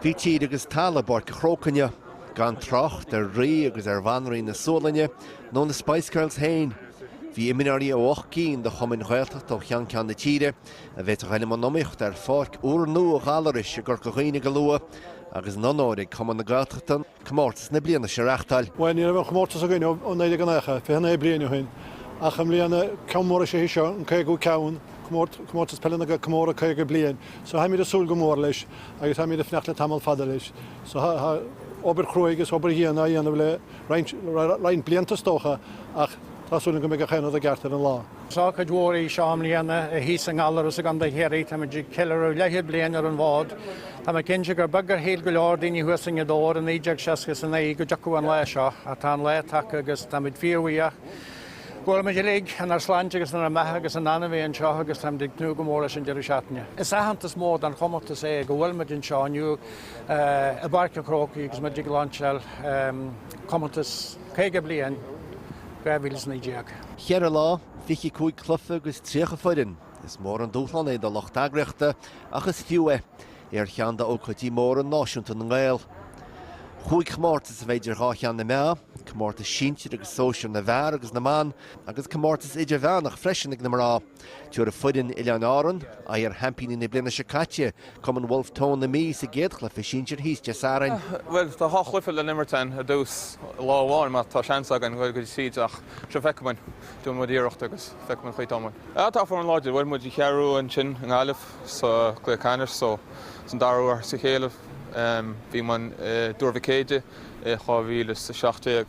Bhí tír agus talamh i bPáirc a' Chrócaigh, gan trácht ar Rí agus ar Bhanríon na Sualainne, nó na Spice Girls féin. Bhí imreoirí ó ocht gcinn de chumainn Ghaeltachta ó cheann ceann na tíre a bheidh ag gabháil i mbun iomaíochta ar pháirc úr nua Ghallarais i gCorca Dhuibhne go luath agus an onóir ag cumann na Gaeltachta comórtas na bliana seo a reáchtáil. Bhuel, ní raibh an comórtas againn ó 1990, 29 bliain ó shin ach i mbliana ceann mór is ea seo an 50ú ceann, comórtas peile na comóradh 50 bliain. So tháimid ag súil go mór leis agus tháimid ag fanacht le tamall fada leis. So tá obair chruaidh is obair dhian á dhéanamh le roinnt blianta is dócha ach tá súil agam go mbeidh gach aon rud i gceart ar an lá. Is ócáid mhór í seo againn i mbliana, a thíos i nGallaras i gContae Chiarraí. Táimid ag ceiliúradh leathchéad bliain ar an bhfód. Tá mé cinnte gur beag a shíl go leor daoine thuas i nGaoth Dobhair i 1969 go dtiocfadh an lá seo, ach tá an lá tagtha agus táimid fíorbhuíoch go bhfuilimid uilig inár sláinte agus inár mbeatha agus in ann a bheith anseo agus táimid ag tnúth go mór leis an deireadh seachtaine. Is aitheantas mór don chomórtas é go bhfuilimid anseo inniu i bPáirc an Chrócaigh agus muid ag láinseáil comórtas 50 bliain. 2019. Cheithre lá, fiche cúig cluiche agus tríocha foireann. Is mór an dúshlán é do lucht eagraíochta ach is fiú é. É ar cheann d'ócáidí móra náisiúnta na nGael. Chúig chomórtas a bheidh idir dhá cheann na meá, comórtas sinsir agus sóisir na bhfear agus na mban agus comórtas idirmheánach freisin ag na mná. Tabharfaidh foireann Oileáin Árann aghaidh ar sheaimpíní na bliana seo caite, Cumann Bhulf Tón na Mí, sa gcéad chluiche sinsir thíos Dé Sathairn. Bhuel, tá dhá chluiche le n-imirt againn i dtús lá amháin má tá seans againn dul go dtí tríd ach seo feicfimid. Déanfaidh muid iarracht agus feicfimid an chaoi atá muid. Ah, tá foireann láidir. Bhuail muid an Cheathrú ansin i nGaillimh sa gcluiche ceannais so is an dara huair as a chéile. Bhí muid i dTuar Mhic Éadaigh i 2017.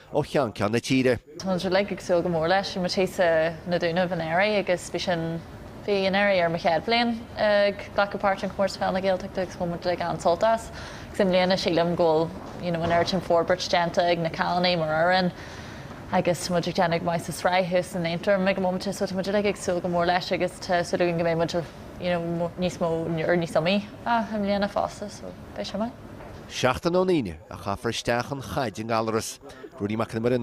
ó cheann ceann na tíre. Tá muid uilig ag súil go mór leis mar bhí sé sna Dúnaibh anuraidh agus bhí sin, bhí anuraidh ar mo chéad bhliain ag glacadh páirt in Comórtas Peile na Gaeltachta agus bhain muid uilig an-sult as agus i mbliana sílim go bhfuil you know an oiread sin forbairt déanta ag na cailíní mar fhoireann agus tá muid ag déanamh go maith sa sraith thuas in Aontroim ag an móiminte so tá muid uilig ag súil go mór leis agus tá súil againn go mbeidh muid you know níos mó or níos iomaíche i mbliana fosta so. Beidh sé maith. Seachtain ón Aoine a chaithfear isteach an chaid i nGallaras. Ruairí Mac Con Iomaire.